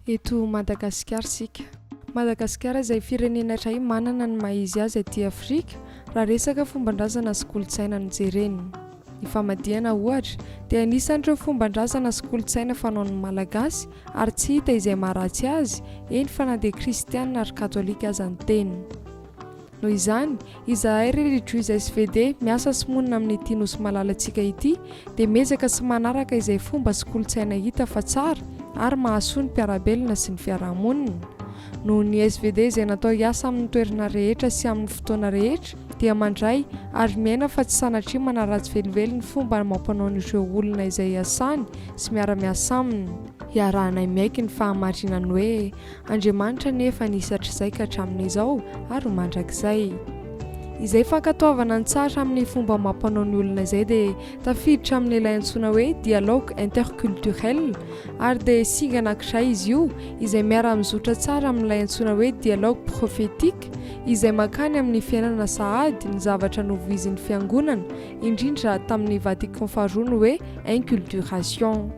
eto Madagasikara isika. Madagasikara izay firenena iray manana ny maha-izy azy aty Afrika raha resaka fomban-drazana sy kolontsaina no jerena. Ny famadihana ohatra dia anisan'ireo fomban-drazana sy kolontsaina fanaon'ny Malagasy ary tsy hita izay maharatsy azy, eny fa na dia kristiana ary katolika aza ny teny. Noho izany, izahay ry Rejoice SVD miasa sy monina amin'ity Nosy malalantsika ity dia miezaka sy manaraka izay fomba sy kolontsaina hita fa tsara ary mahasoa ny mpiara-belona sy ny fiarahamonina. Noho ny SVD izay natao hiasa amin'ny toerana rehetra sy amin'ny fotoana rehetra dia mandray ary miaina fa tsy sanatria manaratsy velively ny fomba amam-panaon'ireo olona izay iasany sy miara-miasa aminy. Iarahanay miaiky ny fahamarinan'ny hoe Andriamanitra anefa nisy hatrizay ka hatramin'izao ary ho mandrakizay. Izay fankatoavana ny tsara amin'ny fomba amam-panao ny olona izay dia tafiditra amin'ilay antsoina hoe dialogue interculturel ary dia singa anankiray izy io izay miara-mizotra tsara amin'ilay antsoina hoe dialogue prophétique izay mankany amin'ny fiainana sahady ny zavatra novoizin'ny fiangonana indrindra tamin'ny Vatican faharoa ny hoe inculturation.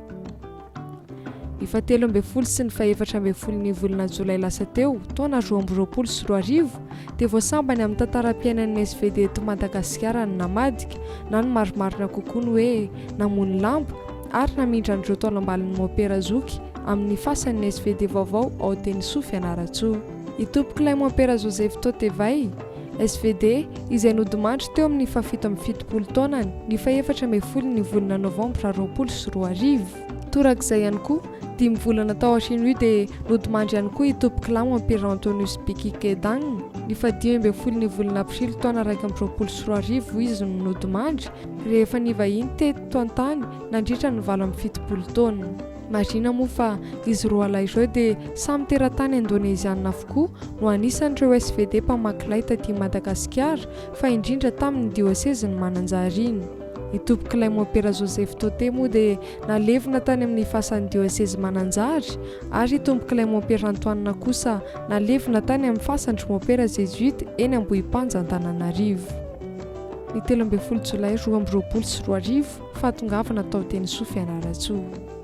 Ny fahatelo ambin'ny folo sy ny fahefatra ambin'ny folon'ny volana jolay lasa teo, taona roa amby roapolo sy roa arivo, dia voasambany amin'ny tantaram-piainan'ny SVD eto Madagasikara ny namadika, na ny marimarina kokoa ny hoe namono lamba, ary namindra an'ireo taolambalin'ny mompera zoky amin'ny fasany ny SVD vaovao ao Tenisofy Fianarantsoa. Itompokolahy mompera Joseph Totevay, SVD, izay nodimandry teo amin'ny fahafito amby fitopolo taonany, ny fahefatra ambin'ny folon'ny volana novambra roapolo sy roa arivo. Torak'izay ihany koa, dimy volana tao aorian'io dia nodimandry ihany koa i Topklam Ampera Antonius Biki Kedang, ny fahadimy ambin'ny folon'ny volana aprily taona iraika amby roapolo sy roa arivo izy no nodimandry, rehefa nivahiny teto an-tany nandritra ny valo amby fitopolo taona. Marihina moa fa izy roalahy ireo dia samy teratany Indoneziana avokoa no anisan'ireo SVD mpamaky lay taty Madagasikara fa indrindra tamin'ny diosezin'i Mananjary iny. I Tompokilay Mompera Joseph Tote moa dia nalevina tany amin'ny fasan'ny diosezy Mananjary ary i Tompokilay Mompera Antoine kosa nalevina tany amin'ny fasan-dry Mompera Zezuita eny Ambohipanja Antananarivo. Ny telo ambin'ny folo jolay roa amby roapolo sy roa arivo, Fahatongavana tao Tenisoa Fianarantsoa.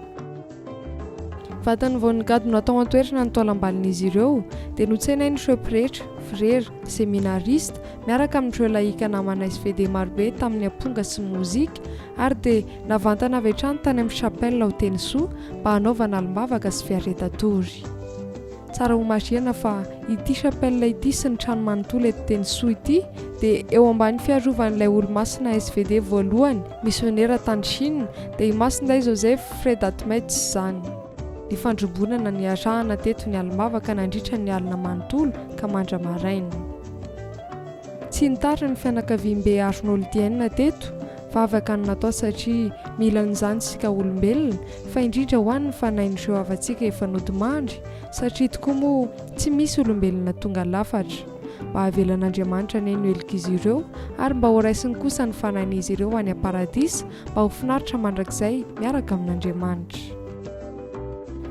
Vatany vao nigadona hatao an-toerana ny taolam-balin'izy ireo dia notsenain'ireo pretra, frera, seminarista miaraka amin'ireo lahika namanay sy vedety marobe tamin'ny amponga sy mozika ary dia navantana avy hatrany tany amin'ny chapelle ao Tenisoa mba hanaovana alim-bavaka sy fiareta-tory. Tsara homarihana fa ity chapelle ity sy ny trano manontolo eto Tenisoa ity dia eo ambany fiarovan'ilay Olomasina svd voalohany, misionera tany Chine, dia i Masindahy Joseph Fred Atmets izany. Nifandrombonana niarahana teto ny alim-bavaka nandritra ny alina manontolo ka mandra-maraina. Tsy nitary ny fianakaviam-be Arnoldiens teto Vavaka no natao satria mila an'izany isika olombelona, fa indrindra ho an'ny fanahin'ireo havantsika efa nodimandry, satria tokoa moa tsy misy olombelona tonga lafatra. Mba havelan'Andriamanitra anie ny helokizy ireo, ary mba horaisiny kosa ny fanahin'izy ireo any am-paradisa mba ho finaritra mandrakizay miaraka amin'Andriamanitra.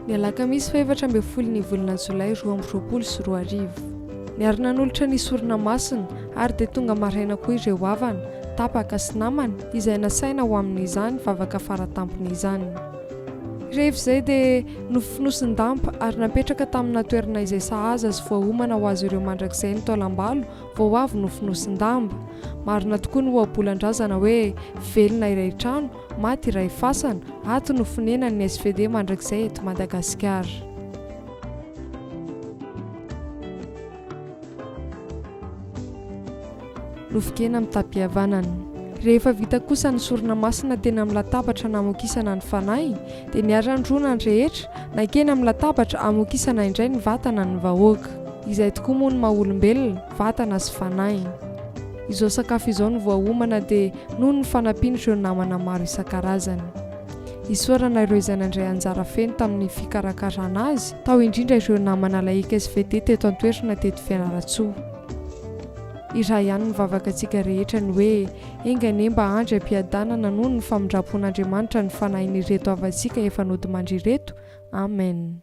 Ny alakamisy fahefatra ambin'ny folo ny volana jolay roa amby roapolo sy roa arivo. Niary nanolotra ny sorona masina, ary dia tonga maraina koa ireo havana, tapaka sy namana izay nasaina ho amin'izany vavaka fara tampony izany. Rehefa izay dia nofonosin-damba ary napetraka tamina toerana izay sahaza sy voaomana ho azy ireo mandrakizay ny taolam-balo vao avy nofonosin-damba. Marina tokoa ny ohabolan-drazana hoe, Velona iray trano, maty iray fasana, ato no fonenan'ny svd mandrakizay eto Madagasikara. Nofon-kena amin'ny tapi-havanana. Rehefa vita kosa ny sorona masina teny amin'ny latabatra namokisana ny fanahy, dia niara-nirona ny rehetra, nankeny amin'ny latabatra hamokisana indray ny vatana ny vahoaka. Izay tokoa moa ny maha olombelona, vatana sy fanahy. Izao sakafo izao no voaomana dia noho ny fanampian'ireo namana maro isan-karazany. Isaorana ireo izay nandray anjara feno tamin'ny fikarakarana azy, tao indrindra ireo namana lay XVT teto an-toerana teto Fianarantsoa. Iray ihany ny vavakatsika rehetra ny hoe, enga anie mba andry am-piadanana noho ny famindram-pon'Andriamanitra ny fanahin'ireto havantsika efa nodimandry ireto. Amen.